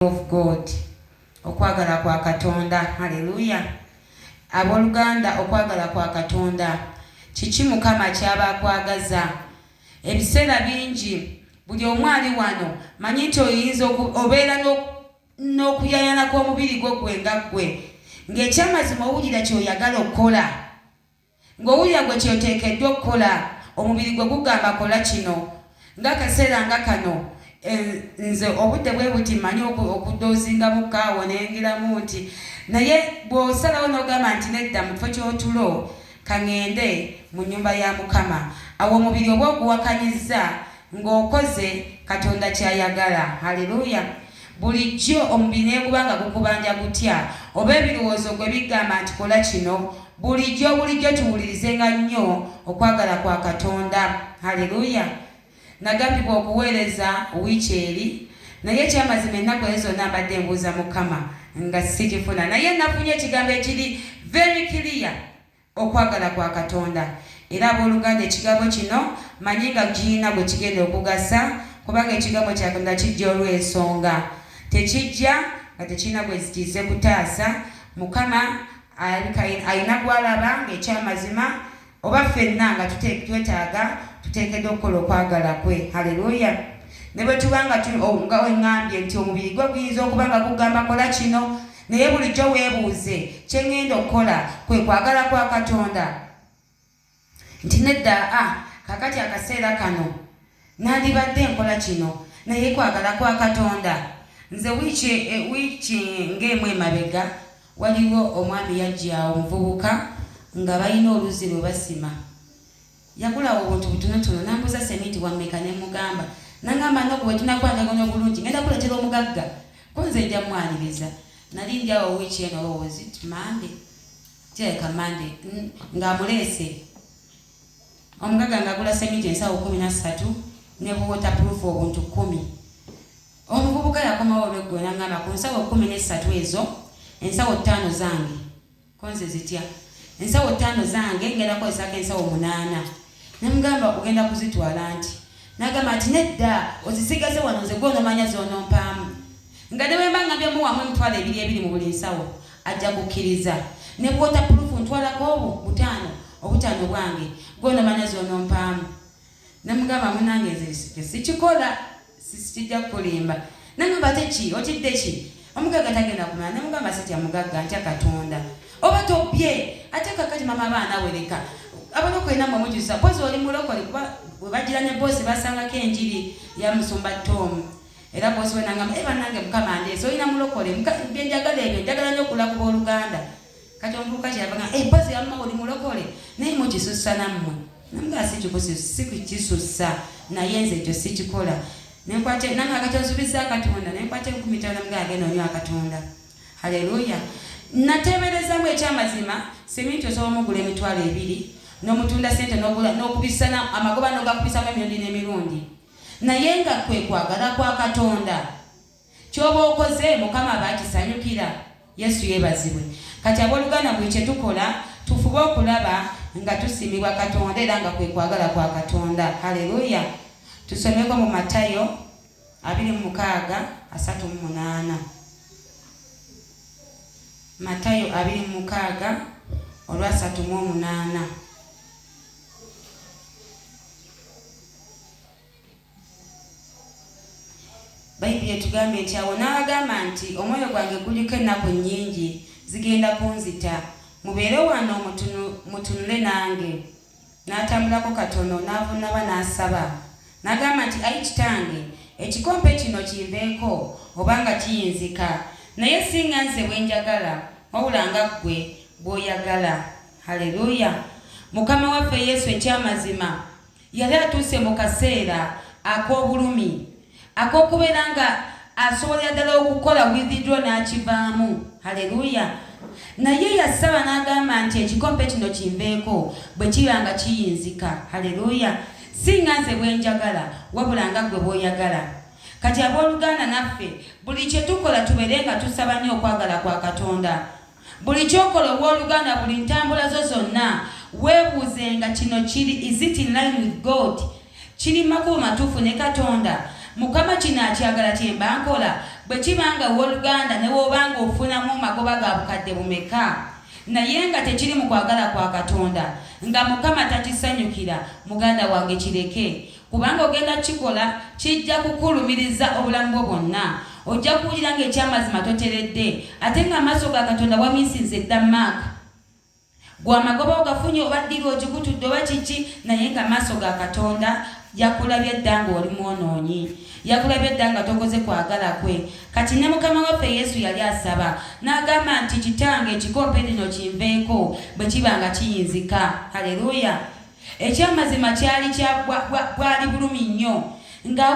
of God okwagala kwa katonda haleluya aboluganda okwagala kwa katonda kiki mukama kyaba akwagaza ebiseera bingi buli omu ali wano manyi nti oyinza obeera n'okuyayana kw'omubiri gwo gwe nga ggwe ng'ekyamazima owulira kyoyagala okukola Ng'owulira gwe ky'oteekeddwa okukola, omubiri gwo gugamba kola kino. Ng'akaseera nga kano, nze obudde bwe buti mmanyi okudoozingamu kaawo ne ngiramu nti, naye bw'osalawo n'ogamba nti nedda mu kifo ky'otulo, ka ŋŋende mu nnyumba ya Mukama. Awo omubiri oba oguwakanyizza. ng'okoze Katonda ky'ayagala. Haleluya! Bulijjo omubiri ne guba nga gukubanja gutya, oba ebirowoozo gwe bigamba nti kola kino, bulijjo bulijjo tuwulirizenga nnyo okwagala kwa Katonda. Haleluya! Nagambibwa okuweereza wiiki eri, naye ekyamazima ennaku ezo zonna mbadde mbuuza Mukama nga sikifuna, naye nafunye ekigambo ekiri very clear. okwagala kwa Katonda. Era ab'oluganda ekigambo kino mmanyi nga kirina gwe kigenda okugasa, kubanga ekigambo kya Katonda kijja olw'ensonga. Tekijja nga tekirina gwe kizze kutaasa. Mukama alabika alina gw'alaba ng'eky'amazima, oba ffenna nga twetaaga, tuteekeddwa okukola okwagala kwe. Haleluya! Ne bwe tuba nga, nga bwe ŋŋambye nti omubiri gwo guyinza okuba nga gugamba kola kino, Naye bulijjo weebuuze, Kye ŋŋenda okukola kwe kwagala kwa Katonda? Nti nedda, a, kaakati akaseera kano nnandibadde nkola kino, naye kwagala kwa Katonda? Nze wiiki, e, wiiki ng'emu emabega, waliwo omwami yajja awo, omuvubuka, nga balina oluzzi lwe basima. Yagulawo obuntu butonotono n'ambuuza seminti wa mmeka ne mmugamba. N'angamba Nup bwe tunakwatagana obulungi ng'enda kuleetera omugagga ko nze nja mwaniriza. Nali ndi awo wiiki eno oba was it Monday? Kirabika Monday ng'amuleese omugagga ng'agula seminti ensawo kkumi na ssatu ne buwotapuruufu obuntu kkumi. Omuvubuka yakomawo olweggulo n'angamba ku nsawo kkumi n'essatu ezo ensawo ttaano zange. Ko nze zitya ensawo ttaano zange ngenda kukozesako ensawo munaana. Ne mmugamba ogenda kuzitwala anti? N'agamba nti nedda ozisigaze wano nze gwe onomanya z'onompaamu. Nga ne bwe mba ngambye wamu emitwalo ebiri ebiri mu buli nsawo ajja kukkiriza. Ne bw'otappuluufu ntwalako obwo butaano obutaano bwange gwe onomanya z'onompaamu. Namugamba munange nze sikikola sikijja kukulimba. Namugamba ate ki otidde ki omugagga tagenda kumala. Namugamba sitya mugagga ntya Katonda oba tobbye ate kakati mama abaana wereka abalokole namwe mujusa pozi oli mulokole kuba webajira ne bosi basangako enjiri ya musumba tomu era bosi wenangamba e eh, banange mukama ndeese olina mulokole byenjagala ebyo njagala nyo okulakuba oluganda kati omuvubuka kyeyabaga empozi eh, yamma oli mulokole naye mukisussa nammwe namugaa sikikusussa naye nze ekyo sikikola nenkwate nange akati onsubiza katonda nenkwate enkumi tano namugaa agenda onywa katonda haleluya nateeberezamu ekyamazima seminti osobola omugula emitwalo ebiri n'omutunda sente n'okubisana amagoba n'ogakubisamu emirundi n'emirundi naye nga kwe kwagala kwa katonda Kyoba okoze mukama aba akisanyukira yesu yebazibwe kati aboluganda buli kyetukola tufube okulaba nga tusimibwa katonda era nga kwekwagala kwa katonda haleluya tusomeko mu matayo abiri mu mukaaga asatu mu munaana matayo abiri mu mukaaga olwasatu mu omunaana Bayibuli etugambye nti awo n'abagamba nti omwoyo gwange guliko ennaku nnyingi zigenda kunzita mubeere wano mutunule nange n'atambulako katono n'avunnaba n'asaba n'agamba nti ayi kitange ekikompe kino kinveeko obanga kiyinzika naye si nga nze bwe njagala wabula nga ggwe bw'oyagala haleluya mukama waffe yesu ekyamazima Yali atuuse mu kaseera ak'obulumi, ak'okubeera nga asobolera ddala okukola withdro n'akivaamu. Haleluya! Naye yasaba n'agamba nti, Ekikompe kino kinveeko, bwe kiba nga kiyinzika. Haleluya! Si nga nze bwe njagala, wabula nga Ggwe bw'oyagala. Kati, ab'oluganda, naffe buli kye tukola tubeere nga tusaba nnyo okwagala kwa Katonda. Buli ky'okola ow'oluganda, buli ntambula zo zonna, weebuuzenga kino, Kiri, is it in line with God? Kiri mu makubo matuufu ne Katonda? Mukama kino akyagala kye mba nkola? Bwe kiba nga, ow'oluganda, ne w'oba nga ofunamu magoba ga bukadde bumeka, naye nga tekiri mu kwagala kwa Katonda, nga Mukama takisanyukira, muganda wange, kireke. Kubanga ogenda kukikola, kijja kukulumiriza obulamu bwo bwonna. Ojja kuwulira ng'ekyamazima toteredde, ate ng'amaaso ga Katonda wamiisinze dda. Mark. Gwe amagoba ogafunye oba ddiiru ogikutudde oba kiki, naye ng'amaaso ga Katonda yakulabye dda ng'oli mwonoonyi. Yakulabye dda nga tokoze kwagala kwe. Kati ne Mukama waffe Yesu yali asaba, n'agamba nti, Kitange, ekikompe kino kinveeko, bwe kiba nga kiyinzika. Aleruuya! Ekyamazima kyali kya bwa, bwa, bwali bulumi nnyo. Nga,